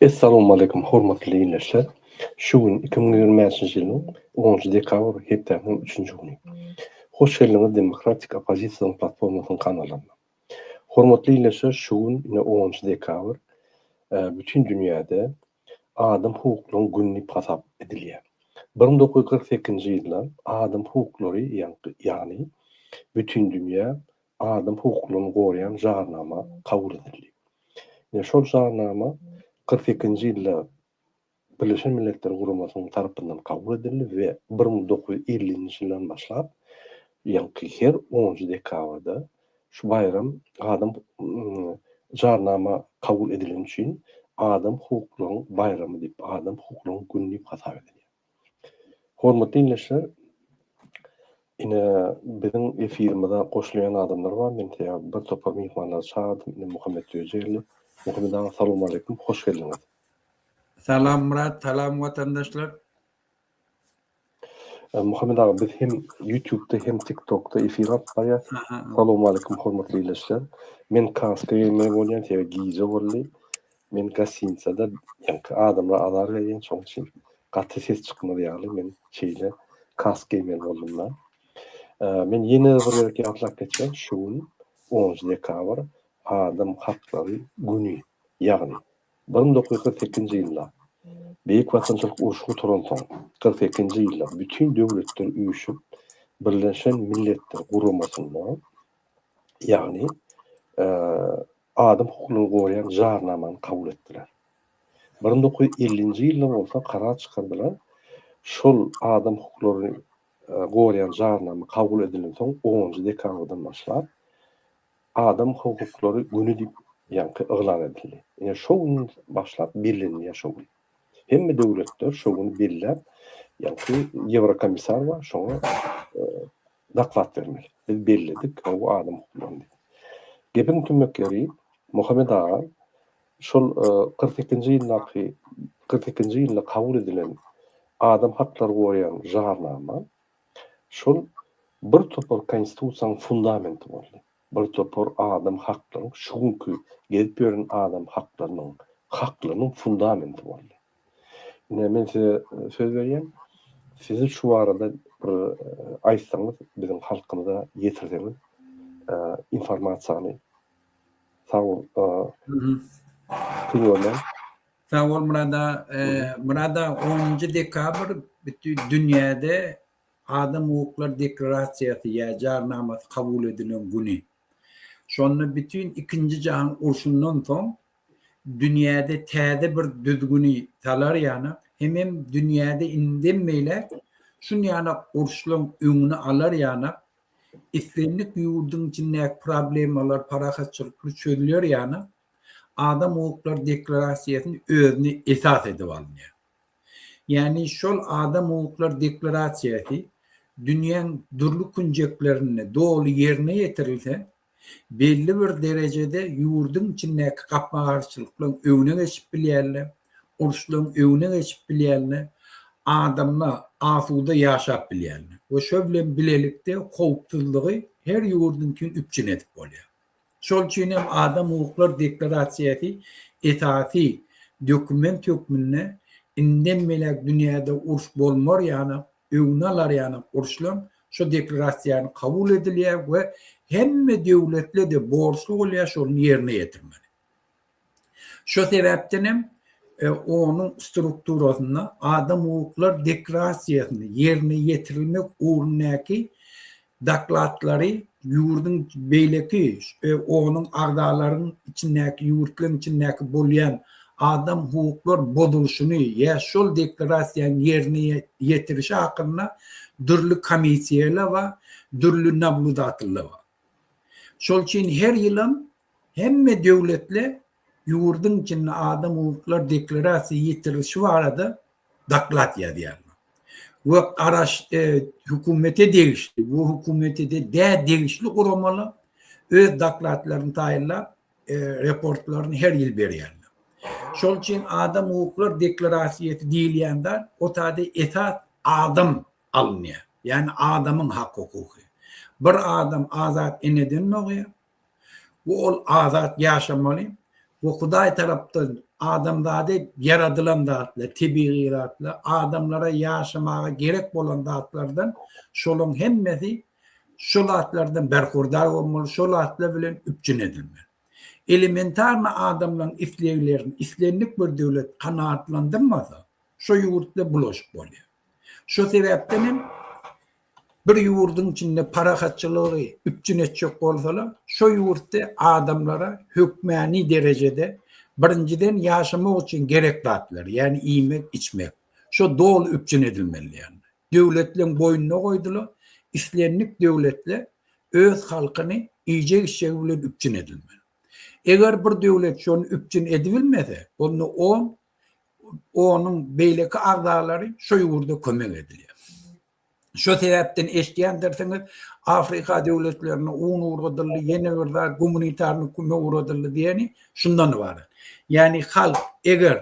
Essalamualeýkum hormatly ildeşler. Şu gün iki müň ýigrimi bäşinji ýylyň onunjy dekabr hepdäniň üçünji güni. Hoş geldiňiz Demokratik oppozisiýanyň platformasynyň kanalyna. Hormatly ildeşler, şu gün ine onunjy dekabr e, bütin dünýäde Adam hukuklaryň güni diýip hasap edilýär. Bir müň dokuz ýüz kyrk sekizinji ýylda Adam hukuklary ýagny Bütindünýä adam hukuklaryny goraýan jarnama kabul edildi. Ine şol jarnama kyrk sekizinji ýylda Birleşen Milletler Guramasynyň tarapyndan kabul edildi we bir müň dokuz ýüz ellinji ýyldan başlap ýaňky her onunjy dekabrda Şu baýram adam Jarnama kabul edileni üçin Adam hukuklaryň baýramy diýip, Adam hukuklaryň güni diýip hasap edilýär. Hormatly dinleýjiler, ine biziň efirimize goşulýan adamlar bar. Men size bir topar myhmanlary çagyrdyp, indi Muhammet Öjeýew. Muhammet aga, salowmaleýkim, hoş geldiňiz. Salam Myrat, salam watandaşlar. Muhammet aga biz hem ýutubda hem tiktokda efir alyp barýas. Salowmaleýkim hormatly ildeşler. Men kaska geýmeli bolýan sebäbi gije boldy. Men gastinsada ýaňky adamlara azar berýän şoň üçin gaty ses çykmaz ýaly men şeýle kask geýmeli boldumda. Men ýene bir gezek ýatlap geçýän şu gün onunjy dekabr adam haklary güni ýagny Bir müň dokuz ýüz kyrk sekizinji ýylda, Beýik Watançylyk urşy gutaransoň, kyrk sekizinji ýylda Bütin döwletler üýşüp, Birleşen Milletler Guramasynda, ýagny adam hukuklaryny goraýan Jarnamany kabul etdiler. Bir müň dokuz ýüz ellinji ýylda bolsa karar çykardylar, şol adam hukuklaryny goraýan Jarnama kabul edilensoň, onunjy dekabrdan başlap, Adam hukuklary güni diýip ýaňky yglan edildi. Ine şo gün başlap bellenilýär şo gün. Hemme döwletler şo güni belläp, ýaňky Ýewrokomissar bar, şoňa doklad bermeli. Biz belledik, gowy adam hukuklaryny diýip. Gepiň tümmek ýeri, Muhammet aga şol kyrk sekizinji ýyldaky, kyrk sekizinji ýylda kabul edilen adam haklary goraýan jarnama Şol bir topar Konstitusiýanyň fundamenti boldy. Bir topar adam haklaryň, şu günki gezip ýören adam haklarynyň, haklarynyň fundamenti boldy. Ine, men size söz berýän, siziň şu barada bir aýtsaňyz, biziň halkymyza ýetirseňiz informasiýany. Sag boluň. Köňüň görmän. Sag bol Murad aga. Murad aga onunjy dekabr bütin dünýäde Adam hukuklar deklarasiýasy ýa jarnamasy kabul edilen güni. Şonda bütin ikinji jahan urşundan soň dünýäde täze bir düzgüni salar ýanak hemem dünýäde indiden beýläk şun ýanak urşlaň öňüni alar ýanak islendik ýurduň içindäki problemalar parahatçylykly çözüler ýanak Adam hukuklary deklarasiýasyny özüne esas edip alynýar. Ýagny şol Adam hukuklary deklarasiýasy dünýäň dürli künjeklerinde doly ýerine ýetirilse, belli bir derejede ýurduň içindäki gapma-garşylyklaryň öňüne geçip bilýärler, uruşlaryň öňüne geçip bilýärler, adamlar asuda ýaşap bilýärler we şo bilen bilelikde howpsuzlygy her ýurduňky üpjün edip bolýar. Şol üçin hem Adam hukuklar deklarasiýasy esasy dokument hökmünde indem beläk dünýäde uruş bolmar ýaly öňüni alar ýaly uruşlaryň şu deklarasiýany kabul edilýär we hemme döwletli-de borçly bolýar şony ýerine ýetirmeli. Şo sebäpden hem onuň strukturasynda adam-hukuklar deklrasiýasyny ýerine ýetirilmek ugrundaky dokladlary ýurduň beýleki onuň agzalaryň içindäki ýurtlaryň içindäki bolýan adam-hukuklar bozulyşyny ýa şol deklrasiýanyň ýerine ýetirişi hakynda dürli komissiýalar bar, dürli nabludateller bar. Şol üçin her ýylam Hemme döwletli ýurduň içinde adam hukuklar deklarasiýa ýetirilişi barada doklad ýazýarlar we garaş hökümete degişli we hökümetede dä degişli guramalar öz dokladlaryny taýynlap reportlaryny her ýyl berýärler. Şol üçin adam hukuklar deklarasiýasy diýilýän zat otada esas adam alynýar, ýagny adamyň hak hukuky. Bir adam azat eneden dogýar, we ol azat ýaşamaly we Hudaý tarapdan adamzady ýaradylan zatlar, tebigy zatlar, adamlara ýaşamaga gerek bolan zatlardan şolaryň hemmesi şol zatlardan berhurdar bolmaly, şol zatlar bilen üpjün edilmeli. Elementarny adamlaryň isleglerini islendik bir döwlet kanagatlandyrmasa, şo ýurtda bulaşyk bolýar. Şo sebäpden hem Bir ýurduň içinde parahatçylygy üpjün etjek bolsalar, şo ýurtda adamlara hökmäni derejede birinjiden ýaşamak üçin gerek zatlar, ýagny iýmek, içmek, şo doly üpjün edilmeli. Ýagny döwletleriň boýnuna goýdular, islendik döwletler öz halkyny iýjek-içjegi bilen üpjün edilmeli. Eger bir döwlet şony üpjün edibilmese, onda on onuň beýleki agzalary şo ýurda kömek edilýär. Şo sebäpden eşidýändirsiňiz, Afrika döwletlerine un ugradyldy, ýene bir zat gumanitarny kömek ugradyldy diýeni şundan ybarat. Ýagny halk eger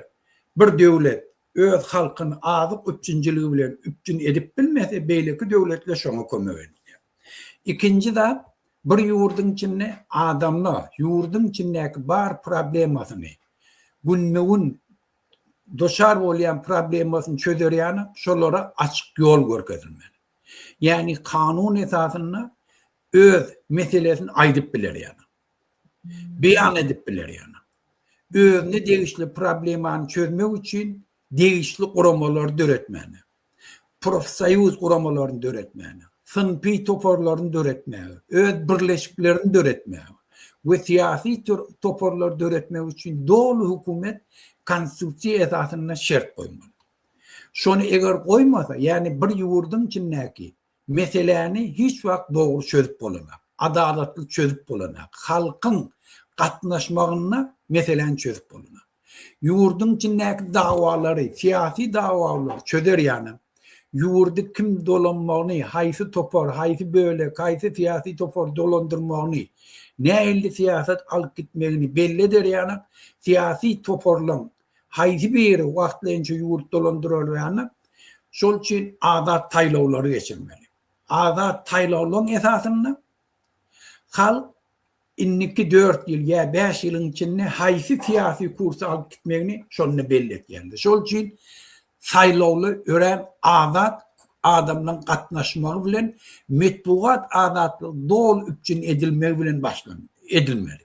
bir döwlet öz halkyny azyk üpjünçiligi bilen üpjün edip bilmese, beýleki döwletler şoňa kömek edýär. Ikinji zat, bir ýurduň içinde adamlar ýurduň içindäki bar problemasyny günbe-gün duçar bolýan problemasyny çözer ýaly şolara açyk ýol görkezilmeli. Ýagny kanun esasynda öz meselesini aýdyp biler ýaly. Beýan edip biler ýaly. Özüne degişli problemany çözmek üçin degişli guramalar döretmeli. profsoýuz guramalaryny döretmäne, synpy toparlaryny döretmäge, öz birleşiklerini döretmäge we syýasy toparlary döretmek üçin doly hökümet konstitusiýa esasynda şert goýmaly. Şony eger goýmasa, ýagny bir ýurduň içindäki Meseläni hiç wagt dogry çözüp bolanok. Adalatly çözüp bolanok. Halkyň gatnaşmagynda meseläni çözüp bolanok. Ýurduň içindäki dawalary, syýasy dawalary çözer ýalam, ýurdy kim dolanmagyny, haýsy topar, haýsy bölek, haýsy syýasy topar dolandyrmagyny, nähilli syýasat alyp gitmegini belli eder ýalam, syýasy toparlaryň haýsy biri wagtlaýynça ýurt dolandyrylýanda, şol üçin azat saýlawlary geçirmeli. Azat saýlawlaryň esasynda halk indiki dört ýyl ýa bäş ýylyň içinde haýsy syýasy kursy alyp gitmegini şonda belli etýändir. Şol üçin saýlawlar örän azat adamlaryň gatnaşmagy bilen metbugat azatlygy doly üpjün edilmegi bilen başlan edilmeli.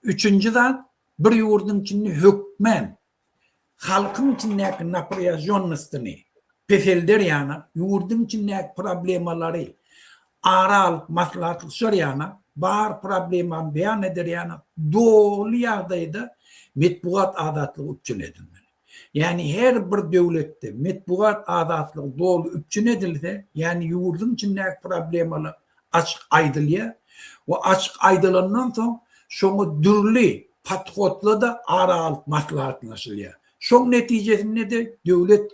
Üçünji zat, bir ýurduň içinde hökmän halkyň içindäki naprýažonnostyny peselder ýana, ýurduň içindäki problemalary ara alyp maslahatlaşar ýana, bar problemany beýan eder ýana doly ýagdaýda metbugat azatlygy üpjün edilmeli. Ýagny her bir döwletde metbugat azatlygy doly üpjün edilse, ýagny ýurduň içindäki problemalar açyk aýdylýar we açyk aýdylandan soň şoňa dürli podhodlarda ara alyp maslahatlaşylýar. Şoň netijesinde-de döwlet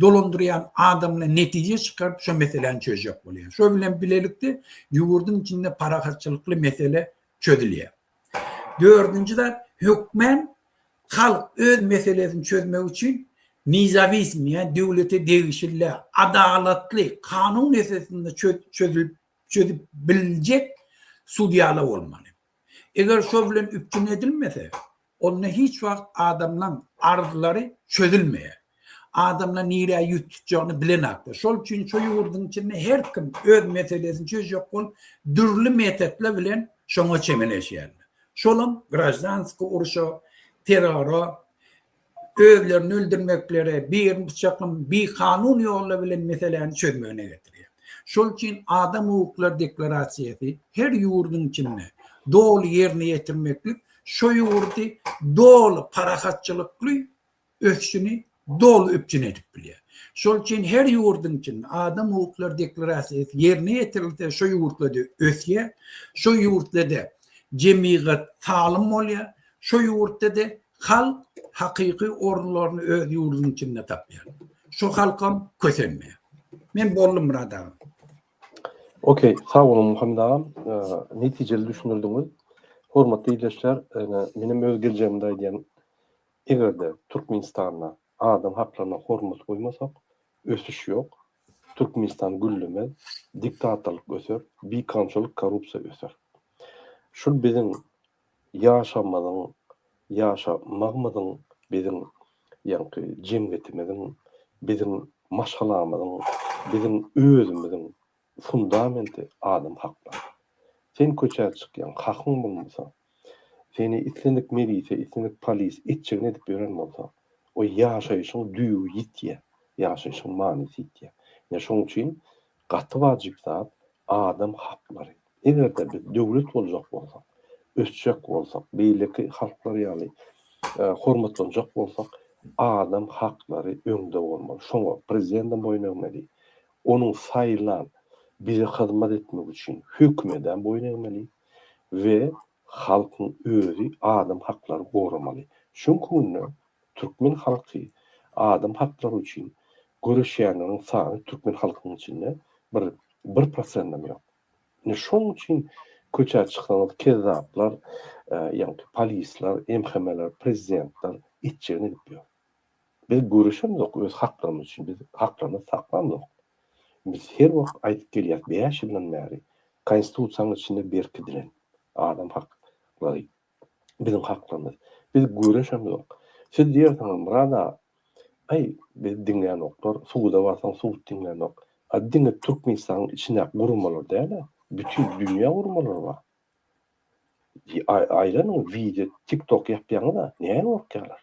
dolandyrýan adamlar netije çykaryp şo meseläni çözjek bolýar. Şo bilen bilelikde ýurduň içinde parahatçylykly mesele çözülýär. Dördünji zat, hökmän halk öz meselesini çözmek üçin nizawizm, ýagny döwlete degişli däl, adalatly, kanun esasynda çözülip çözüp biljek sudýalar bolmaly. Eger şol bilen üpjün edilmese, onda hiç wagt adamlaň arzlary çözülmeýär. Adamlar nirä ýüz tutjagyny bilenakdyr. Şol üçin şu ýurduň içinde her kim öz meselesini çözjek bolup, dürli metotlar bilen şoňa çemeleşýärler. Şolam graždanskiý urşa, terrora, özlerini öldürmeklere, birini pyçaklama, bikanun ýollar bilen meseläni çözmegine getirýär. Şol üçin adam hukuklary deklarasiýasy her ýurduň içinde doly ýerine ýetirmeklik şu ýurdy doly parahatçylykly ösüşini doly üpjün edip bilýär. Şol üçin her ýurduň içinde adam hukuklary deklarasiýasy ýerine ýetirilse, şo ýurtlarda ösýär, şo ýurtlarda jemgyýat salym bolýar, şo ýurtlarda halk hakyky orunlaryny öz ýurdunyň içinde tapýar. Şo halkam kösenmeýär. Men boldum Murad aga. Okey, sag boluň Muhammet agam. Netijeli düşündirdiňiz. Hormatly ildeşler, menem öz geljegimde aýdýan Eger-de Türkmenistanda adam haklaryna hormat goýmasak, ösüş ýok, Türkmenistan güllemez, diktatorlyk öser, bikanunçylyk, korrupsiýa öser. Şul biziň ýaşamyzyň, ýaşamagymyzyň, biziň ýaňky jemgyýetimiziň, biziň maşgalamyzyň, biziň özümiziň fundamenti adam haklary. Sen köçä çykýaň, hakyň bolmasa, seni islendik melise, islendik polis etjegini edip ýören bolsa, o ýaşaýşyň düýbi ýitýär, ýaşaýşyň manysy ýitýär. Ine şoň üçin gaty wajyp zat adam haklary. Eger-de biz döwlet boljak bolsak, ösjek bolsak, beýleki halklar ýaly hormatlanjak bolsak, adam haklary öňde bolmaly. Şoňa prezidendem boýun egmeli, Onuň saýlan, bize hyzmat etmek üçin hökümedem boýun egmeli we halkyň özi adam haklary goramaly. Şoň künde türkmen halky adam haklary üçin göreşýänleriň sany türkmen halkynyň içinde bir bir prosendem ýok. Ine şoň üçin köçä çyksaňyz kezzaplar, ýaňky polisler, MHM-ler, prezidentler etjegini edip ýör. Biz göreşemzok öz haklarymyz üçin, biz haklarymyzy saklamzok. Biz her wagt aýdyp gelýäris, bäş ýyldan bäri Konstitusiýanyň içinde berkidilen adam haklary, biziň haklarymyz. Biz göreşemzok. Siz diýersiňiz, Murad aga, aý, bizi diňlänoklar, suda barsaň sud diňlänok. A diňe Türkmenistanyň içindäki guramalar däl-ä, bütin dünýä guramalary bar. Aýlanyň, wideo, tik-tok ýapýaňyz-a, näme gorkýarlar?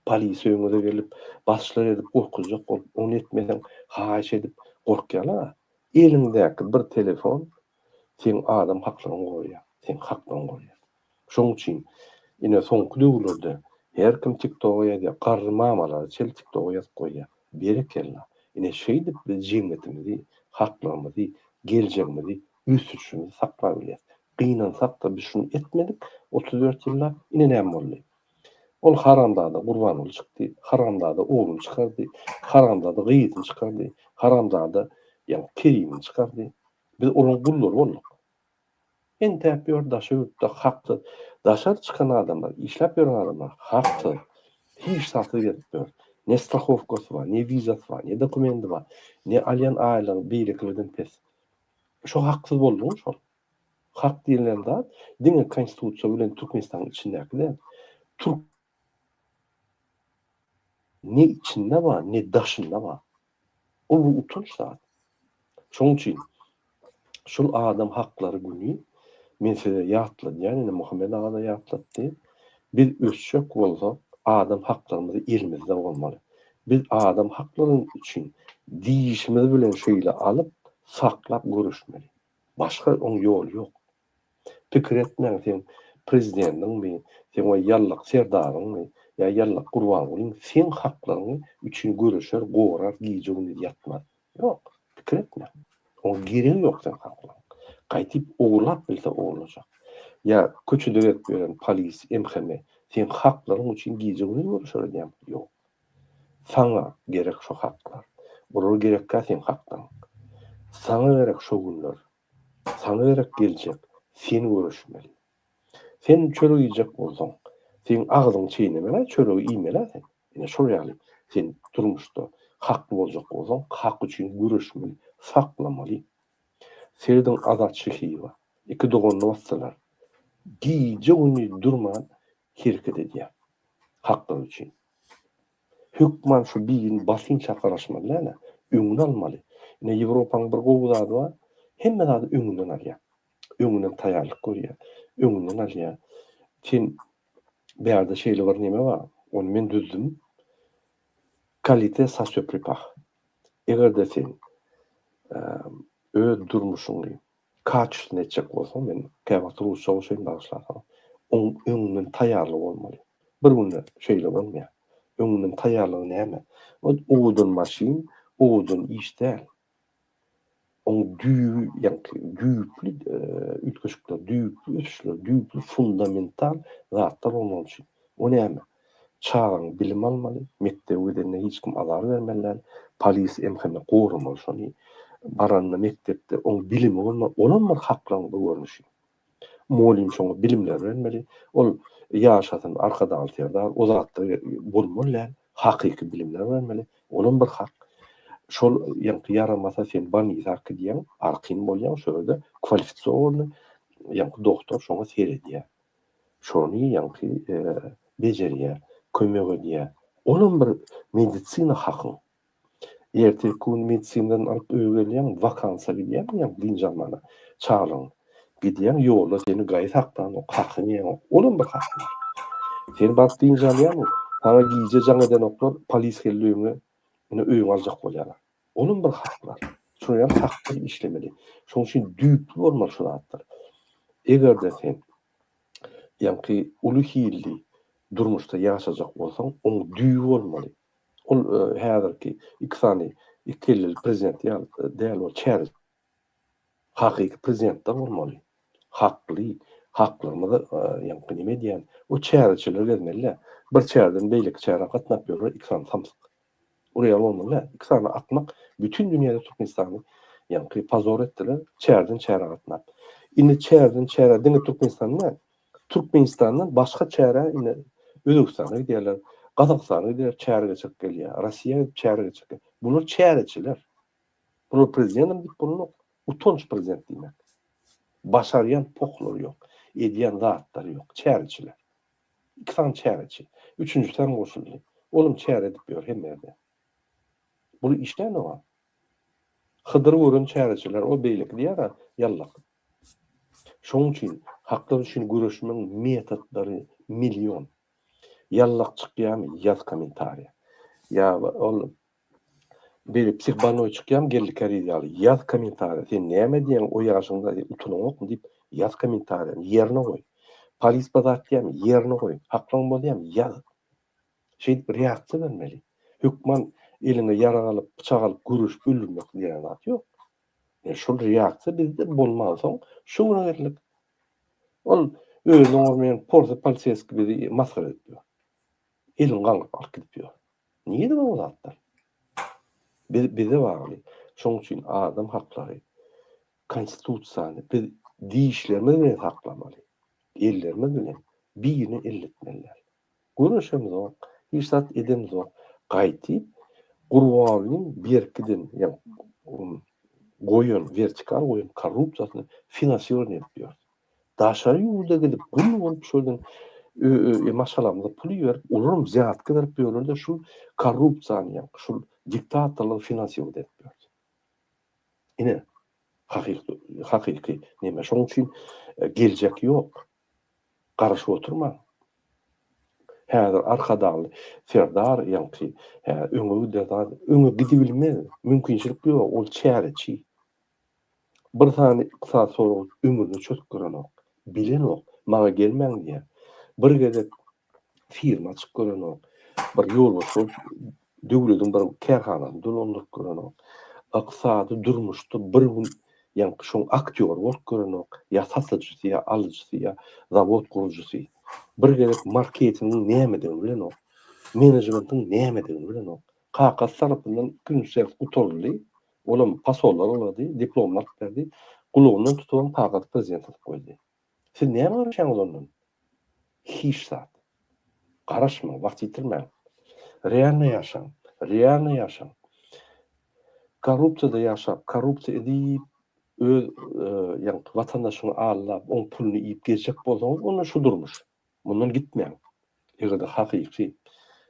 Polis öýüňize gelip, basşlar edip gorkuzjak bolup, ony etmeseň, haýyş edip gorkýan-a. Eliňdäki bir telefon seň adam haklygyňy goraýar, seň haklygyňy goraýar. Şoň üçin, ine, soňky döwürlerde her kim TikTok-a ýazýar, garry mamalary çel TikTok-a ýazyp goýýar. Berekella! Ine, şeýdip biz jemgyýetimizi, haklygymyzy, geljegimizi, ösüşimizi saklap bilýäs. Gynansak-da biz şuny etmedik otuz dört ýyllap, ine näme boldy? Ol haramzada Gurbanguly çykdy, haramzada ogluny çykardy, haramzada gyzyny çykardy, haramzada ýa-ni Kerimini çykardy. Biz olaryň gullary bolduk. Entäp ýör daşa ýurtda haksyz. Daşary çykan adamlar, işläp ýören adamlar haksyz. Hiç zatsy gezip ýör. Ne strahowkasy bar, ne wizasy bar, ne dokumendi bar, ne alýan aýlygy beýlekilerden pes. Şo haksyz boldumy şol? Hak diýilýän zat diňe konstitusiýa bilen Türkmenistanyň içindäki däl. Türk ne içinde bar, ne daşynda bar. Bu bu utanç zat. Şonuň üçin şul adam haklary güni men size ýatladýan, ine Muhammet aga-da ýatlatdy. Biz ösjek bolsak, adam haklarymyzy elimizde bolmaly. Biz adam haklaryny üçin dişimiz bilen şeýle alyp, saklap göreşmeli. Başga oň ýoly ýok. Pikir etmäň seň prezidentiňmi, seň we ýallak serdaryňmy, ýa ýallak gurbangulyň seň haklaryň üçin göreşer, gorar gije gündiz ýatmaz. Ýok, pikir etmäň. Oň geregi ýok seň haklaň. Gaýdyp ogurlap bilse ogurlajak. Ýa köçede gezip ýören polis, MHM seň haklaryň üçin gije gündiz göreşer edýämi? Ýok. Saňa gerek şo haklar. Olar gerekkä seň hakdaň. Saňa gerek şo günler. Saňa gerek geljek. Sen göreşmeli. Sen çörek iýjek bolsaň, seň agzyňy çeýnemeli-ä, çöregi iýmeli-ä sen. Ine şol ýaly, sen durmuşda hakly boljak bolsaň, hak üçin göreşmeli, saklamaly. Serediň Azat Şyhyýewa. Iki doganyny basdylar. Gije-gündiz durman hereket edýär haklar üçin. Hökman şu birini basynça garaşmaly däl-ä, öňüni almaly. Ine Ýewropanyň bir gowy zady bar, hemme zady öňünden alýar. Öňünden taýýarlyk görýär, öňünden alýar. Sen bärde şeýle bir neme bar, ony men düzdüm. Kalite sa söpripah. Eger-de sen öz durmuşyňy Kaçysyny etjek bolsaň, men käwagt rusça goşaýyn bagyşla saňa. Oň öňünden taýýarlygy bolmaly. Bir günde şeýle bolmaýar. Öňünden taýýarlygy näme? Ol owadan maşyn, owadan iş däl. Oň düýbi ýaňky düýpli üýtgeşikler, düýpli ösüşler, düýpli fundamental zatlar bolmaly üçin. O näme? Çagaň bilim almaly, mekdebe gidenine hiç kim azar bermeli däl, polis emhene goramaly şony. Baranda mekdepde oň bilimi bolmaly, olam bir haklaryň bir görnüşi. Mugallym şoňa bilimler bermeli, ol ýaşasyn Arkadagly Serdar, o zatlar bolmaly däl, hakyky bilimler bermeli, olam bir hak. Şol ýaňky ýaramasa sen bolnisa ak gidýäň, arkin bolýaň, şo ýerde kwalifisowany ýaňky doktor şoňa seredýär. Şony ýaňky bejerýär, kömek edýär. Olam bir medisina haky. Ertirki gün medisinadan alyp öýe gelýäň, wakansa gidýäň, ýa dynç almana, çagalaň. Gidýäň, ýolda seni gaýy saklanok, hakyňy ýeňok. Olam bir hak. Sen baryp dynç alýarmyň? Saňa gije jaň edenoklar, polis geldi öýüňe, ine öýüňi aljak bolýarlar. Olam bir haklar. Şuny hem hak bilen işlemeli. Şoň üçin düýpli bolmaly şu zatlar. Eger-de sen ýaňky uly hilli durmuşda ýaşajak bolsaň, oň düýbi bolmaly. Ol häzirki iki sany iki kelli prezident ýaly däl ol çäre Hakyky prezidentler bolmaly. Hakly, haklygymyzy ýaňky neme diýýän, o çäreçiler gezmeli-dä. Bir çäreden beýleki çärä gatnap ýörler iki sany samsyk. Ol ýaly bolmaly-dä. Iki sany akmak bütin dünýäde Türkmenistany ýaňky pozor etdiler, çäreden çärä gatnap. Indi çäreden çärä diňe Türkmenistan däl, Türkmenistandan başga çärä indi Özbegistana gidýärler, Gazagystana gidip çäre geçirip gelýär, Rossiýa gidip çäre geçirip gelýär. Bular çäreçiler. Bular prezidentem diýip bolnok. Utanç prezident diýmek. Başarýan pohlary ýok. Edýän zatlary ýok. Çäreçiler. Iki sany çäreçi. Üçünjisi hem goşuldy. Olam çäre edip ýör hemme ýerde. Bul iş näme oňa? Hydyry gören çäreçiler o beýleki diýer-ä, ýallak. Şoň üçin haklar üçin göreşmegiň metodlary million. Ýallak çykýamy ýaz kommentariýa. Ýa ol Beýle psih bannoý çykýam geldi keriz ýaly. Ýaz kommentariýa sen näme diýýäň o ýaşyňda utulyňokmy diýip ýaz kommentariýany ýerine goý. Polis bir zat diýýämi ýerine goý. Haklyň bolýamy ýaz. Şeýdip reaksiýa bermeli. Hökman eliňe ýarag alyp pyçak alyp göreşip öldürmek diýen zat ýok. Ýa şol reaksiýa bizde bolmansoň şu güne geldik. Ol özüne urmaýan porsy poliseski bizi masgara edip ýör. Elin gaňryp alyp gidip ýör. Nirede bar bu zatlar? Biz bize bagly. Şoň üçin adam haklary, konstitusiýany biz dişlerimiz bilen saklamaly. Ellerimiz bilen birine elletmeliler. Göreşemizok, hiç zat edemizok. Gaýtyp Gurbanlyň berkiden, ýagny goýan, wertikal goýan korrupsiýasyny finansirowanie edip ýörüs. Daşary ýurda gidip gul bolup şoýdan maşgalamyza pul iberip olaram zýatka berip ýörlerde şul korrupsiýany ýa şul diktatorlygy finansiýowat edip ýördi. Ine hakyky hakyky neme şoň üçin geljek ýok. Garaşyp oturmaň. Häzir arkadagly serdar ýaňky öňe gider öňe gidibilmez mümkinçilik ýok ol çäreçi. Bir sany ykdysat sorag ömrüne çöz görenok. Bilenok. Maňa gelmäň diýýär. Bir gezek firma açyp görenok. Bir ýolbars bolup döwlediň bir kärhanasyny dolandyryp görenok. Ykdysady durmuşda bir gün ýaňky şoň aktýory bolup görenok. Ýa satyjysy ýa alyjysy ýa zawod gurujysy. Bir gezek marketingiň nämedigini bilenok. Menejmentiň nämedigini bilenok. Kakasy tarapyndan ikinji sert gutaryldy. Olam pasollar ulady, diplomlar berdi. Gulagyndan tutubam kagazy prezidente atyp goýdy. Siz näme garaşýaňyz ondan? Hiç zat. Garaşmaň, wagt ýitirmäň. Realny ýaşaň. Realny ýaşaň. Korrupsiýada ýaşap, korrupsiýa edip, öz, ýagny watandaşyňy aldap, oň puluny iýip gezjek bolsaňyz, onda şu durmuş. Mundan gitmäň. Eger-de hakyky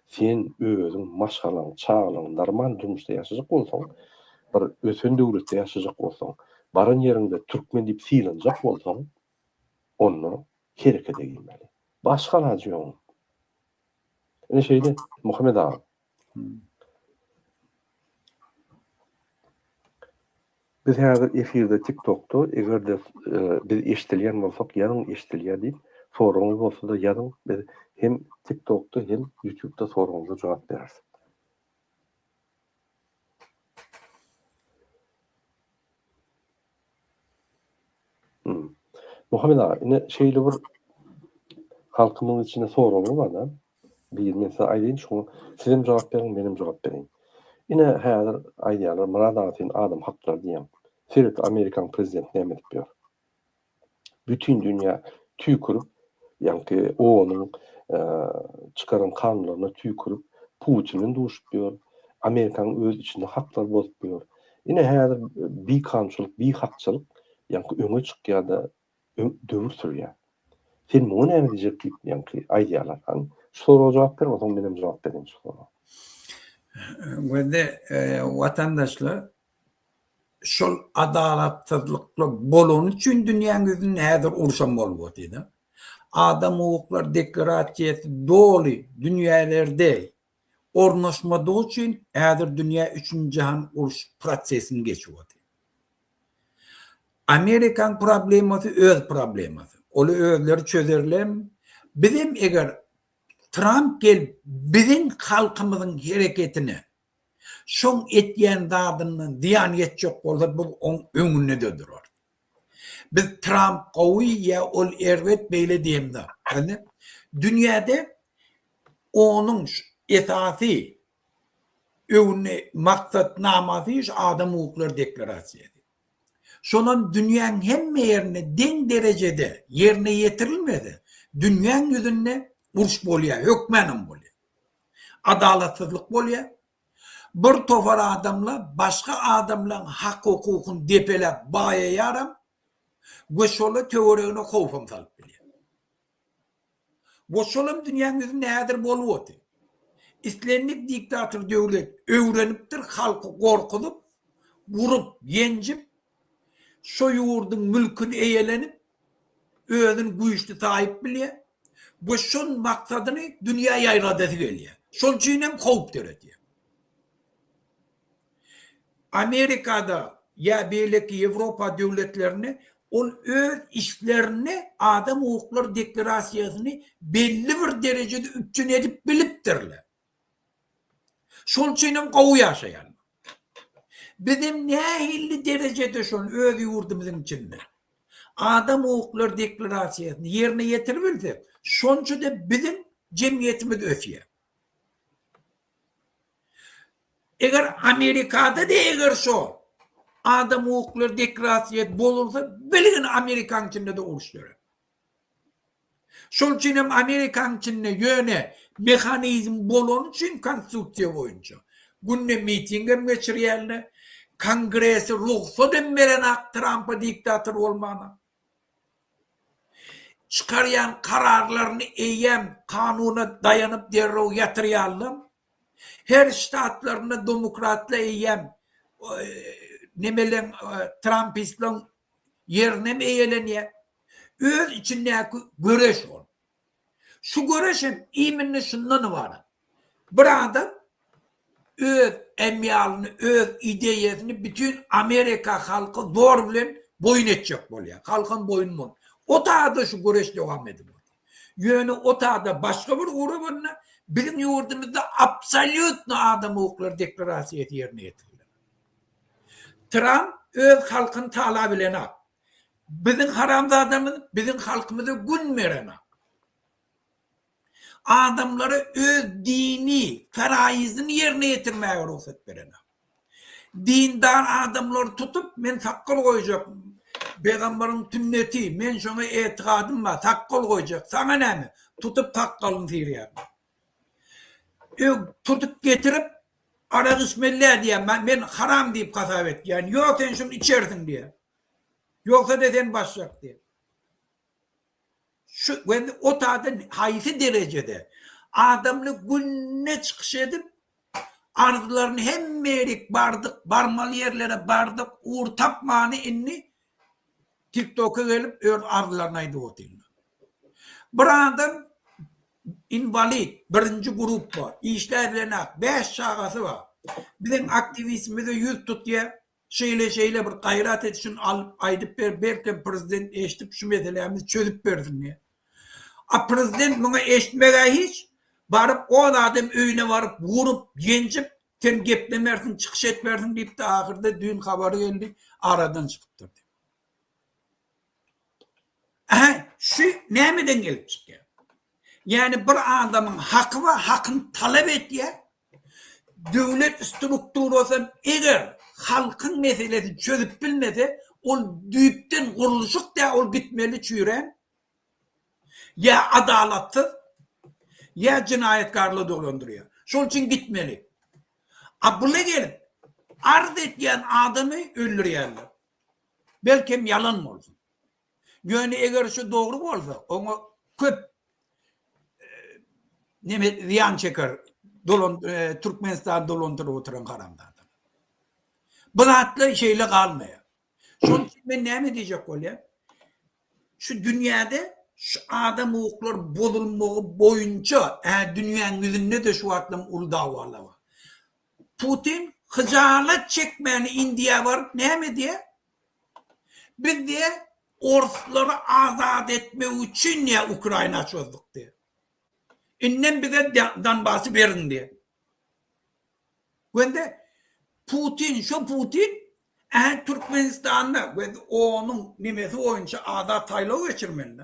sen özüň, maşgalaň, çagalaryň normal durmuşda ýaşajak bolsaň, bir ösen döwletde ýaşajak bolsaň, baran ýeriňde türkmen diýip sylanjak bolsaň, onda herekete girmeli. Başga alajy ýok oň. Ine şeýle, Muhammet aga. Biz häzir efirde tik tokda egerde biz eşdilýän bolsak ýazyň eşdilýär diýip soragyňyz bolsada ýazyň biz hem tik tokda hem ýutubda soragyňyza jogap bereris. Muhammet aga, ine şeýle bir halkymyň içinde soraglar bar-da. Biri men size aýdaýyn, şoňa sizem jogap beriň, menem jogap bereýin. Ine häzir aýdýarlar, Murad aga sen adam haklary diýýäň. Seret, amerikan prezidenti näme edip ýör? bütin dünýä tüýkürip, ýaňky OON-yň çykaran kanunlaryna tüýkürip, Putin bilen duşup ýör, Amerikanyň öz içinde haklary bozup ýör. Ine, häzir bikanunçylyk, bihakçylyk ýaňky öňe çykýar-da, döwür sürýär. Sen muňa näme diýjek diýip, ýaňky aýdýarlar. Hany, şu soraga jogap ber, onsoň menem jogap bereýin şu soraga. Gözde, watandaşlar Şol adalatsyzlyklar bolany üçin dünýäň ýüzünde häzir uruşam bolmaz diýdim. Adam hukuklary deklarasiýasy doly dünýälerde ornaşmadygy üçin häzir dünýä üçünji jahan uruş prosesini geçip otyr. Amerikanyň problemasy öz problemasy. Ol özleri çözerlermi? Bizem eger Tramp gelip biziň halkymyzyň hereketine Şoň etýän zadyndan zyýan ýetjek bolsa biz oň öňünde-de durarys. Biz Tramp gowy ýa ol erbet beýle diýen zat däl-de. Dünýäde onuň esasy öwne maksatnamasy şu adam hukuklar deklarasiýasy. Şonam dünýäň hemme ýerinde deň derejede ýerine ýetirilmese dünýäň ýüzünde uruş bolýar, hökmänem bolýar. Adalatsyzlyk bolýar. Bir topar adamlar başga adamlaryň hak-hukukyny depeläp baýaýaram we şolar töweregine howpam salyp bilýär. We şolam dünýäň ýüzünde häzir bolup otyr. Islendik diktator döwlet öwrenipdir halky gorkuzyp, urup, ýenjip, şo ýurduň mülküni eýelenip, özüni güýçli saýyp bilýär we şol maksadyny dünýä ýaýradasy gelýär. Şol üçin hem howp döredýär. Amerikada ýa beýleki Ýewropa döwletlerinde ol öz işlerinde adam hukuklary deklarasiýasyny belli bir derejede üpjün edip bilipdirler. Şol üçin hem gowy ýaşaýarlar. Biz hem nähilli derejede şol öz ýurdumyzyň içinde adam hukuklary deklarasiýasyny ýerine ýetiribilsek, şonça-da biziň jemgyýetimiz ösýär. Eger Amerikada-da eger şol adam hukuklary deklarasiýasy bozulsa, bilgin Amerikanyň içinde-de uruş dörär. Şol üçin hem Amerikanyň içinde ýöne mehanizm bolany üçin konstitusiýa boýunça günde miting hem geçirýärler. Kongresi rugsat hem berenok Trampa diktator bolmana. Çykarýan kararlaryny eýýäm kanuna daýanyp derrew ýatyrýarlar. Her ştatlarynda domokratlar eýýäm nemeleň trampistleň ýerini hem eýelenýär. öz içindäki göreş bolup. Şu göreş hem iminni şundan ybarat. Bir adam öz emyalyny, öz ideýasyny bütin Amerika halky zor bilen boýun etjek bolýar. Halkam boýun bol. O taýda şu göreş dowam edip otyr. Ýöne o taýda başga bir ugra bolanda biziň ýurdumyzda absolýutno adam hukuklary deklarasiýasy ýerine ýetiriler. Tramp öz halkyny talap elenok. Biziň haramzadamyz biziň halkymyza gün berenok. Adamlara öz dini faraýyzyny ýerine ýetirmäge rugsat berenok. Dindar adamlary tutup men sakgal goýjak, pegamberiň sünneti, men şoňa etikadym bar, sakgal goýjak, saňa näme, tutup sakgalyny syrýarlar. Ög, tutup getirip, arak içmeli-dä diýýär. Men haram diýip hasap etýän. Ýok, sen şuny içersiň diýýär. Ýogsa-da sen başjak diýýär. Şu weli otadan haýsy derejede? Adamly günde çykyş edip, arzlaryny hemmelik bardyk, barmaly ýerlere bardyk, ugur tapmany indi Tiktoka gelip öz arzylaryny aýdyp otyrlar. Bir adam inwalid, birinji gruppa, işläp bilenok, bäş çagasy bar. Biziň aktiwistimize ýüz tutýar, şeýle şeýle bir gaýrat et şuny alyp aýdyp ber, belkem prezident eşdip şu meselämizi çözüp bersin diýýär. A prezident muňa eşitmegä hiç, baryp o zadam öýüne baryp urup, ýenjip Sen geplemersiň, çykyş etmersiň diýipdi, ahyrda düýn habary geldi, aradan çykypdyr diýip. Ähä, şu nämeden gelip çykýar? Ýagny bir adamyň haky bar, hakyny talap etýär. Döwlet strukturasy eger halkyň meselesini çözüp bilmese, ol düýpden gurluşyk däl, ol gitmeli çüýrän. Ýa adalatsyz, ýa jenaýatkarlygy dolandyrýar. Şol üçin gitmeli. Abula gelip arz edýän adamy öldürýärler. Belkem ýalan bolsun. Ýöne eger şu dogry bolsa, oňa köp neme zyýan çeker dolan Türkmenistany dolandyryp oturan haramzadalar. Bu zatlar şeýle galmaýar. Şonuň üçin men näme diýjek bolýan? Şu dünýäde şu adam hukuklar bozulmagy boýunça ä dünýäň ýüzünde-de şu wagtlam uly dawalar bar. Putin hyjalat çekmäni Indiýa baryp näme diýýä? Biz diýýä orslary azat etmek üçin diýýä Ukraina çözdük diýýä. Indem bize Donbasy beriň diýýä. Gönder Putin şo Putin Ä Türkmenistanda we onuň nemesi boýunça azat saýlaw geçirmende,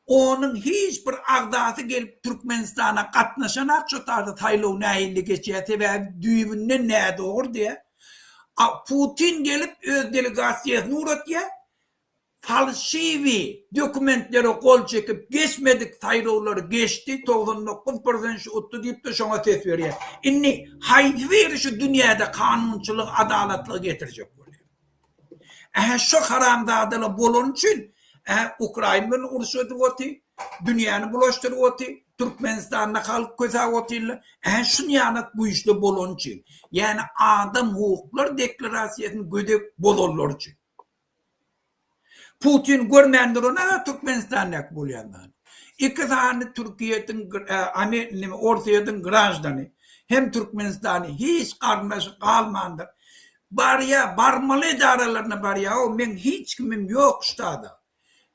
onuň hiç bir agzasy gelip Türkmenistana gatnaşanak şu taýda saýlaw nähilli geçýä sebäbi düýbünden nädogry diýä, a Putin gelip öz delegasiýasyny ugratýa, falşiwi dokumentlere gol çekip geçmedik saýlawlary geçdi togsan dokuz prosent şu utdy diýipdir şoňa ses berýär indi haýsybiri şu dünýäde kanunçylygy adalatlygy getirjek bolýar ähä şu haramzadalar bolany üçin ähä ukrain bilen uruş edip oty dünýäni bulaşdyryp oty türkmenistanda halk kösäp otyrlar ähä şunýanak güýçli bolany üçin ýagny adam hukuklar deklarasiýasyny gödek bozanlar üçin. Putin görmändir ony Türkmenistandaky bolýanlary. Iki sany Türkiýediň Orsýediň graždany hem Türkmenistany hiç garyndaşy galmandyr. Barýa barmaly edaralaryna barýa o meň hiç kimim ýok ştada.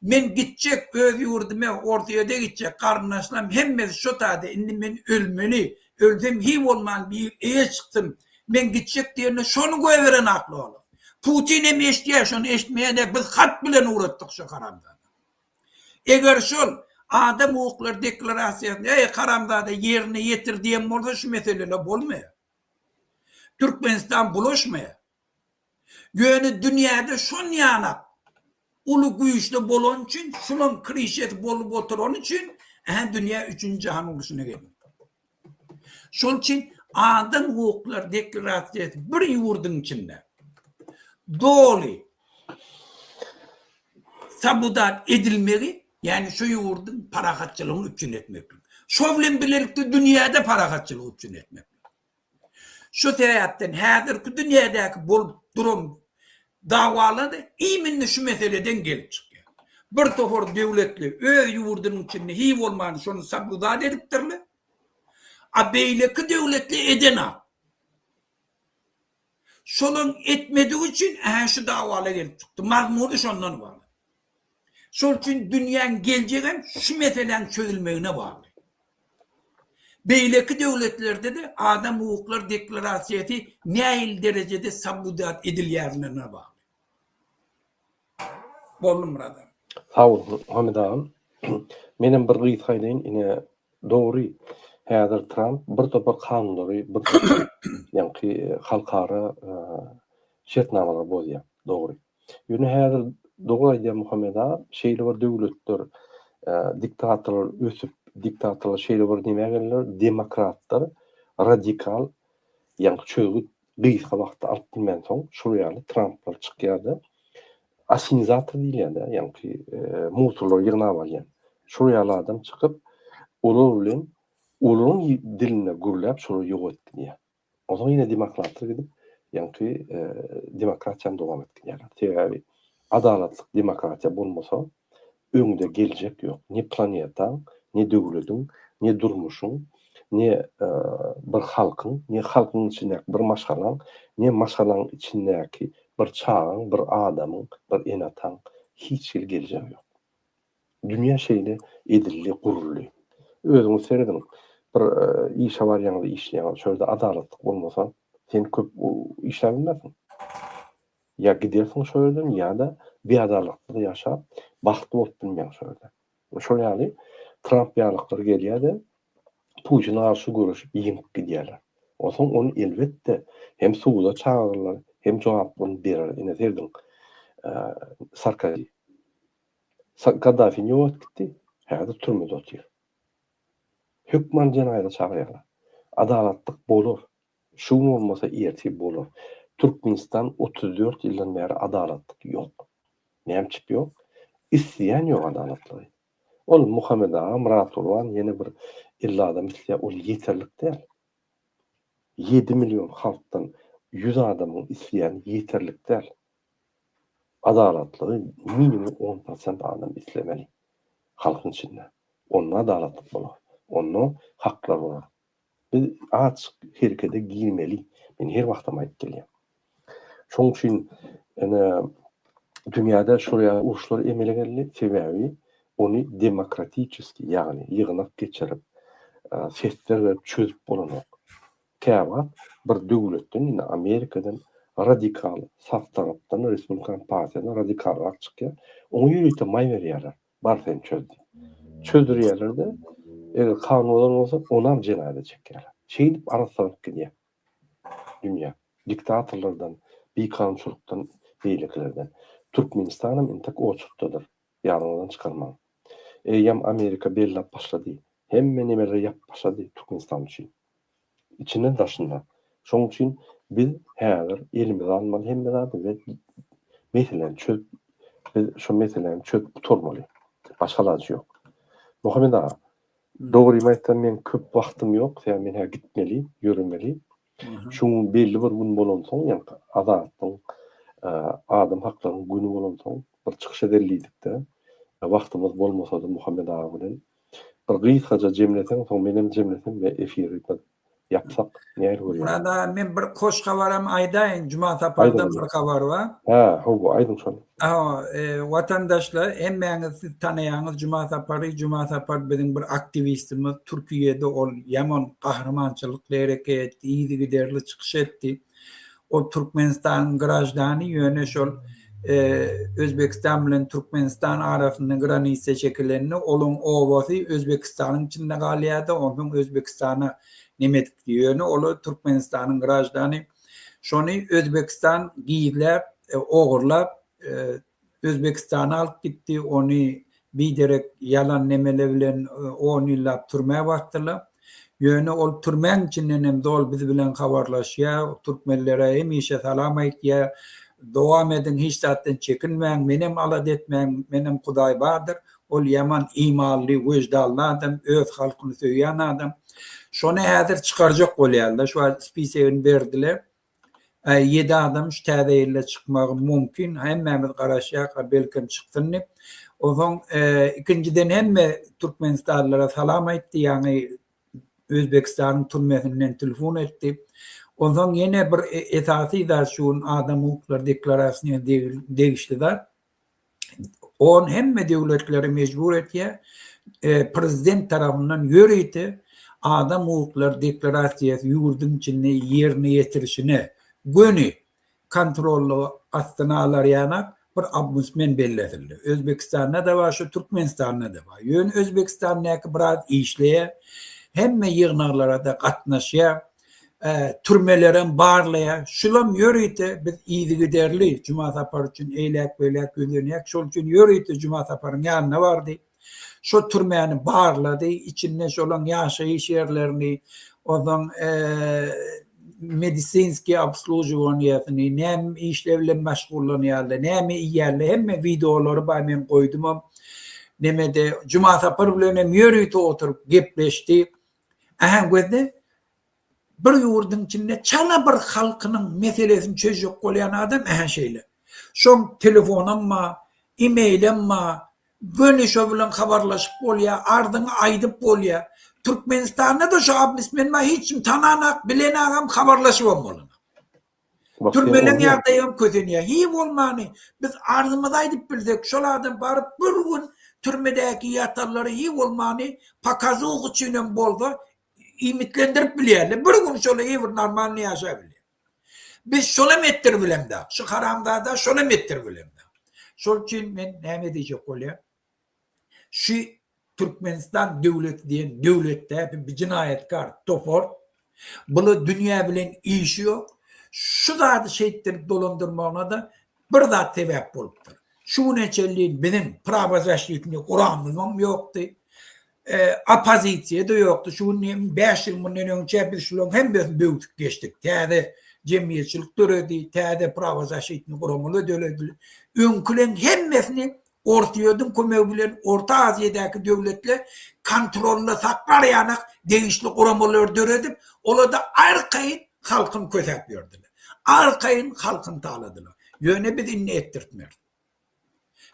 Men gitjek öz ýurduma Orsýede gitjek garyndaşlarym hemmesi şo taýda indi men ölmeli Ölsem hiý bolman bir eýe çyksyn. Men gitjek diýende şony goýberenakly olar. Putin hem eşitýär, şony eşitmeýäne biz hat bilen ugratdyk şu haramzada. Eger şol Adam hukuklary deklarasiýasyny eý haramzada ýerine ýetir diýen bolsa şu meseleler bolmaýar. Türkmenistan bulaşmaýar. Ýöne dünýäde şonýalak uly güýçli bolany üçin, şunuň krişesi bolup oturany üçin ä dünýä üçünji jahan uruşyna geldi. Şol üçin adam hukuklary deklarasiýasy bir ýurduň içinde doly sabudat edilmegi, ýagny şu ýurduň parahatçylygyny üpjün etmeklik, şo bilen bilelikde dünýäde parahatçylygy üpjün etmeklik. Şu sebäpden häzirki dünýädäki bolup duran dawalar-da iýminli şu meseleden gelip çykýar. Bir topar döwletli öz ýurdunyň içinde hiý bolman şony sabludad edipdirler, a beýleki döwletli edenok. Şolaryň etmedigi üçin ä-hä şu dawala gelip çykdy. Mazmuny şondan ybarat. Şol üçin dünýäň geljegem şu meseläň çözülmegine bagly. Beýleki döwletlerde-de adam hukuklar deklarasiýasy nähili derejede sabudat edilýärine bagly. Boldy Myrat aga. Sag bol Hamid agam. Menem bir gysga aýdaýyn ine dogry häzir Tramp bir topar kanunlary bir topar ýaňky halkara şertnamalary bozýar dogry. Ýöne häzir dogry aýdýar Muhammet aga, şeýle bir döwletler, diktatorlar ösüp, diktatorlar şeýle bir nämä geldiler, demokratlar, radikal, ýaňky çözgüt gysga wagtda alyp bilmänsoň, şol ýaly Tramplar çykýar-da, asimizator diýilýär-dä, ýaňky musurlary ýygnap alýan. Şol ýaly adam çykyp, olar bilen olaryň dilinde gürläp, şolary ýok edip gidýär. Onsoň ýene demokratlar gidip, ýaňky demokratiýany dowam etdirýärler. Sebäbi adalatlyk demokratiýa bolmasa, öňde geljek ýok. Ne planetaň, ne döwlediň, ne durmuşyň, ne bir halkyň, ne halkyň içindäki bir maşgalaň, ne maşgalaň içindäki bir çagaň, bir adamyň, bir ene-ataň hiç hili geljegi ýok. Dünýä şeýle edildi, guruldy. Özüňiz serediň, bir işe barýaňyz, işleýäňiz, şo ýerde adalatlyk bolmasa, sen köp işläp bilmersiň. Ýa gidersiň şo ýerden, ýa-da biadalatlyk ýaşap, bagtly bolup bilmeýäň şo ýerde. Şol ýaly Tramp ýalyklar gelýär-de, Putine garşy göreşip, ýeňip gidýärler. Onsoň ony, elbetde, hem suda çagyrarlar, hem jogaplaryny berer. Ine, serediň, Sarkozi. Gaddafi nji wagt gitdi, häzir türmede otyr. Hökman jenaýada çagyrýarlar. Adalatlyk bolar. Şu gün bolmasa ertir bolar. Türkmenistan otuz dört ýyldan bäri adalatlyk ýok. Näme üçip ýok? Isleýän ýok adalatlygy. Ol Muhammet aga, Myratgurban ýene bir elli adam isleýär, ol ýeterlik däl. Ýedi million halkdan ýüz adamyň isleýäni ýeterlik däl. Adalatlygy minimum on prosent adam islemeli halkyň içinde. Onda adalatlyk bolar. Onda haklar bolar. Biz açyk herekede girmeli. Men her wagtam aýdyp gelýän. Şoň üçin ene dünýäde şol ýaly uruşlar emele geldi. Sebäbi ony demokratiçeski ýagny ýygnak geçirip, sesler berip çözüp bolanok. Käwagt bir döwletden ýene Amerikadan radikal saf tarapdan respublikan partiýadan radikalrak çykýar. Oňa ýörite maý berýärler. Bar sen çöz diýip. Çözdürýärler-de, eger kan bozan bolsa, onam jenaýada çekýärler. Şeýdip arassanyp gidýär dünýä. Diktatorlardan, bikanunçylykdan, beýlekilerden. Türkmenistanam intek oçurtdadyr. Ýadyňyzdan çykarmaň. Eýýäm Amerika bellap başlady. Hemme nemeleri ýapyp başlady Türkmenistan üçin. Içinde daşynda. Şoň üçin biz häzir elimize almaly hemme zady we meseläni çözüp biz şu meseläni çözüp gutarmaly. Başga ilajy ýok. Muhammet aga, dogrymy aýtsam meň köp wagtym ýok, sebäbi men hä gitmeli, ýöremeli. Şu gün belli bir gün bolansoň, ýa-da Azatlygyň adam haklarynyň güni bolansoň bir çykyş ederlidik-de. Wagtymyz bolmasa-da Muhammet aga bilen. Bir gysgaja jemleseň soň menem jemlesem we efiri bir ýapsak nähili bolýar. Murad aga men bir hoş habaram aýdaýyn Juma Sapardan bir habar bar. Hä hawa aýdyň şony. Hawa watandaşlar hemmäňiz siz tanaýaňyz Juma Sapary Juma Sapar biziň bir aktiwistimiz Türkiýede ol ýaman gahrymançylykly hereket etdi yzygiderli çykyş etdi. Ol Türkmenistanyň graždany, ýöne şol Özbegistan bilen Türkmenistan arasynda granisiýa çekilende, olaň obasy Özbegistanyň içinde galýardy, onsoň Özbegistana nemetikdi, ýöne olar Türkmenistanyň graždany. Şony Özbegistan gizläp, ogurlap, Özbekistana alyp gitdi, ony biderek ýalan nemele bilen on ýyllap türmä basdylar. Ýöne ol türmäň içinden hem zol biz bilen habarlaşýar, türkmenlere hemişe salam aýtýar, dowam ediň, hiç zatdan çekinmäň, menem alada etmäň, menem Hudaý bardyr, ol ýaman imanly, weždanly adam, öz halkyny söýýän adam. Şony häzir çykarjak bolýarlar, şu wagt spisegini berdiler, Äý ýedi adam şu täze ýylda çykmagy mumkin hemmämiz garaşýak a belkem çyksyn dip onsoň ikinjiden hemme türkmenistanlylara salam aýtdy ýaňy özbekistanyň türmesinden telefon etdi onsoň ýene bir esasy zat şu gün adam hukuklary deklarasiýasyna degişli zat On hemme döwletleri mejbur etýär, prezident tarapyndan ýörite Adam hukuklary deklarasiýasy ýurduň içinde ýerine ýetirişine göni kontrolly astyna alarýanak bir obmbudsmen bellesildi. Özbekistanda-da bar, şu Türkmenistanda-da bar. Ýöne Özbekistandäki biraz işleýär, hemme ýygnaklara-da gatnaşýar. türmelerem barlaýar. Şulam ýörite biz yzygiderli Juma Sapar üçin eýläk-beýläk ýüzlenýäk. Şol üçin ýörite Juma Saparyň ýanyna bardy. Şo türmäni barlady, içinde şolaň ýaşaýyş ýerlerini, ozaň medisinskiý obslužiwaniýesini, näme işler bilen meşgullanýarlar, näme iýýärler, hemme wideolary bar, men goýdumam. Nemede Juma Sapar bilenem ýörite oturyp gepleşdi. Ähengözde bir ýurduň içinde çala bir halkynyň meselesini çözjek bolýan adam ähä şeýle. Şoň telefonam ba, e-mailem ba, göni şo bilen habarlaşyp bolýa, arzyňy aýdyp bolýa. Türkmenistanda-da şo obmsmen ba hiç kim tananok, bilenagam, habarlaşybam bolanok. Türmeleň ýagdaýam kösenýär. Hiý bolmany, biz arzymyzy aýdyp bilsek, şol adam baryp bir gün türmedäki ýatanlary hiý bolmany pokazuha üçinem bolsa iýmitlendirip bilýärler. Bir gün şolar hiý bir normalny ýaşap bilýär. Biz şolam etdirip bilemzok. Şu haramzada şolam etdirip bilemzok. Şol üçin men näme diýjek bolýan? Şu Türkmenistan döwleti diýen döwlet däbi bi jinaýatkar topar. Bula dünýä bilen işi ýok. Şu zady şeýtdirip dolandyrmagyna-da bir zat sebäp bolupdyr. Şu güne çenli biziň prawozasnitni guramyzam ýokdy. Oppozisiýa-da ýokdy. Şu gün hem bäş ýyl mundan öňçä biz şularyň hemmesini böwsüp geçdik. Täze jemgyýetçilik döredi, täze prawozaşitni guramalar döredildi. Öňkileriň hemmesini Orsýetiň kömegi bilen Orta Aziýadaky döwletler kontrolda saklar ýanak degişli guramalary döredip, olarda arkaýyn halkyny kösäp ýördiler. Arkaýyn halkyny taladylar. Ýöne biz indi etdirtmeris.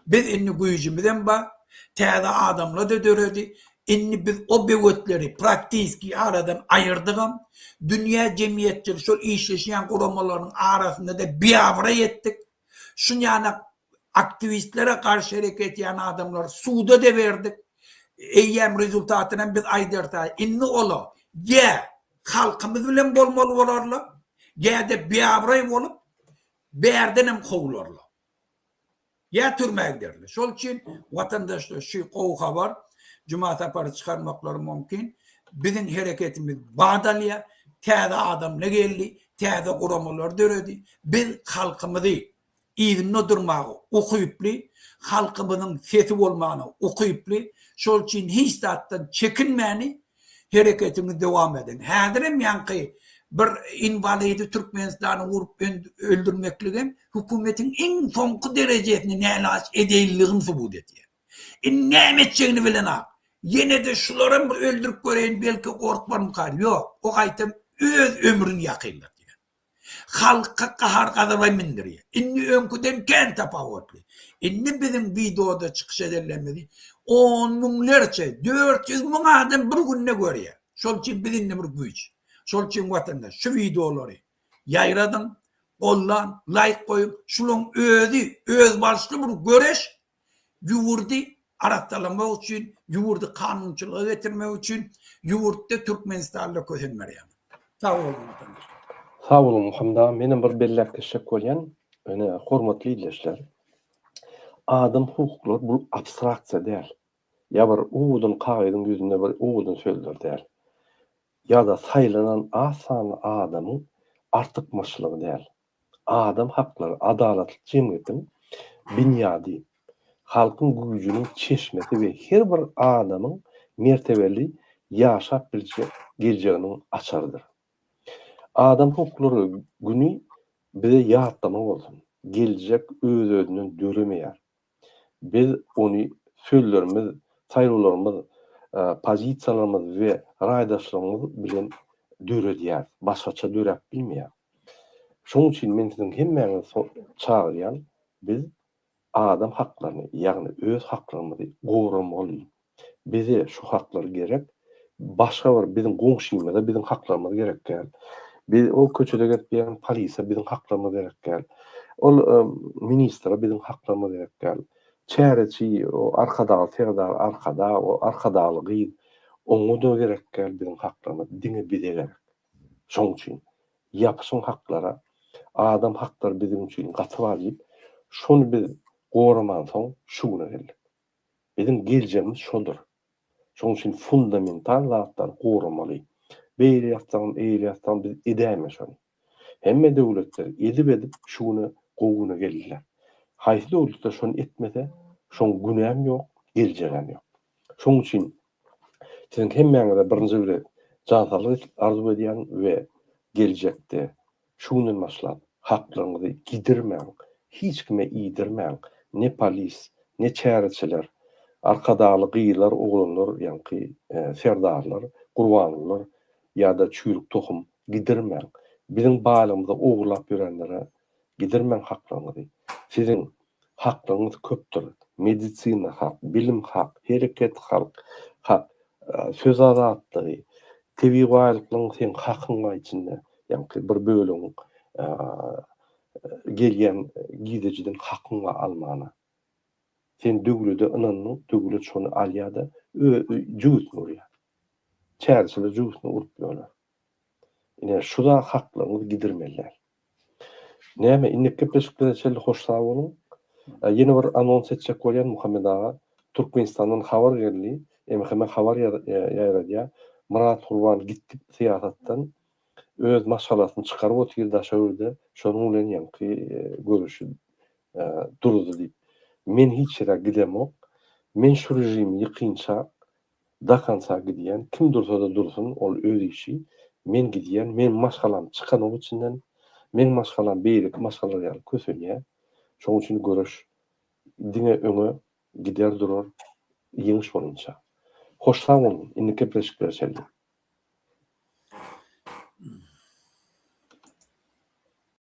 Biz indi güýjümizem bar, täze adamlar-da döredi. Indi biz o böwetleri praktiski aradan aýyrdygam. Dünýä jemgyýetçiligi, şol işleşýän guramalarynyň arasynda-da biabraý etdik. Şunýana aktiwistlere garşy hereket edýän adamlary suda-da berdik. Eýýäm rezultatynam biz aýdarys-aý. Indi olar ýa halkymyz bilen bolmaly bolarlar, ýa-da biabraý bolup, bärdenem kowularlar. Ýa türmä giderler. Şol üçin watandaşlar şu gowy habar Juma Sapary çykarmaklary mumkin. Biziň hereketimiz bat alýar. Täze adamla geldi, täze guramalar döredi. Biz halkymyzy yzynda durmaga ukyply, halkymyzyň sesi bolmagyna ukyply. Şol üçin hiç zatdan çekinmäni Hereketiňizi dowam ediň. Häzirem ýaňky bir inwalidi Türkmenistany urup öldürmekligem hökümetiň iň soňky derejesini nälaç edeýinligini subut edýär. Indi näme etjegini bilenok. Ýene-de şularam bir öldürip göreýin belki gorkmarmykar. Ýok, o gaýtam öz ömrüni ýakynlatýar. Halka gahar gazaby mindirýär. Indi öňküden kän tapawutly. Indi biziň wideoda çykyş edenlerimizi on müňlerçe, dört ýüz müň adam bir günde görýär. Şol üçin biz indi bir güýç. Şol üçin watandaş şu wideolary ýaýradyň, gollan, laýk goýuň. Şulaň özi özbaşly bir göreş, ýurdy arassalamak üçin, ýurdy kanunçylyga getirmek üçin ýurtda Türkmenistanda kösen berýäňiz. Sag boluň watandaşlar. Sag boluň Muhammet aga. Menem bir belläp geçjek bolýan. Ine, hormatly ildeşler, adam hukuklary bu abstraksiýa däl. Ýa bir owadan kagyzyň ýüzünde bir owadan sözler däl. Ýa-da saýlanan az sanly adamyň artykmaçlygy däl. Adam haklary, adalatly jemgyýetiň binýady, halkyň güýjüniň çeşmesi we her bir adamyň mertebeli ýaşap biljek geljeginiň açarydyr. Adam hukuklary güni bize ýatlama bolsun. Geljek öz-özünden döremeýär. Biz ony sözlerimiz, saýlawlarymyz, pozisiýalarymyz we raýdaşlygymyz bilen döredýäris, başgaça döräp bilmeýäris. Şonuň üçin men siziň hemmäňizi çagyrýan, biz adam haklaryny, ýagny öz haklarymyzy goramalydyr. Bize şu haklar gerek. Başga bir biziň goňşymyza biziň haklarymyz gerek däl. Biz o köçede gezip ýören polise biziň haklarymyz gerek däl. Ol ministre biziň haklarymyz gerek däl. Çäreçi, o arkadagly serdar arkadag, o arkadagly gyz oňa-da gerek däl biziň haklarymyz. Diňe bize gerek. Şoň üçin ýapyşyň haklara, adam haklary biziň üçin gaty wajyp. Şony biz goramansoň şu güne geldik. Biziň geljegimiz şoldur. Şonuň üçin fundamental zatlary goramaly. Beýle ýatsaňam, eýle ýatsaňam biz edäýmeli şony. Hemme döwletler edip-edip şu güne, gowy güne geldiler. Haýsy döwletler şony etmese, şoň güni hem ýok, geljegi hem ýok. Şonuň üçin siziň hemmäňize birinji gezek jan saglyk arzuw edýän we geljekde Şu günden başlap, haklaryňyzy gidirmäň, hiç kime iýdirmäň, ne polis, ne çäreçiler, arkadagly gyzlar, oglanlar, ýaňky serdarlar, Gurbangulylar ýa-da çüýrük tohum, gidirmäň. Biziň baýlygymyzy ogurlap ýörenlere gidirmäň haklaryňyzy. Siziň Haklygyňyz köpdür. Medisina hak, bilim hak, hereket halk hak, söz azatlygy, tebigy baýlyklaryň seň hakyň bar içinde, ýaňky bir bölegiň gelýän gidejiden hakyň bar almana. Sen döwlede ynandyň, döwlet şony alýar-da, jübüsini urýar. Çärçiler jübüsini urup ýörler. Ine, şu zat haklygyňyz gidirmeli däl. Näme, innik gepleşiklere çenli hoş sag boluň. Ýene bir anons etjek bolýan Muhammet aga, Türkmenistandan habar geldi, MHM habar ýaýradýar, Myrat Gurban gitdi syýasatdan, öz maşgalasyny çykaryp otyr daşa öwrüde, şonuň bilen ýaňky görüşi duruzdy diýip. Men hiç ýere gidemok. Men şu režimi ýykynçak, Dakansa gidýän, kim dursa-da dursun, ol öz işi. Men gidýän, meň maşgalam çykanok içinden. Meň maşgalam beýleki maşgalalar ýaly kösenýär. Şonuň üçin göreş diňe öňe gider durar, ýeňiş bolunça. Hoş sag boluň, indiki gepleşiklere çenli.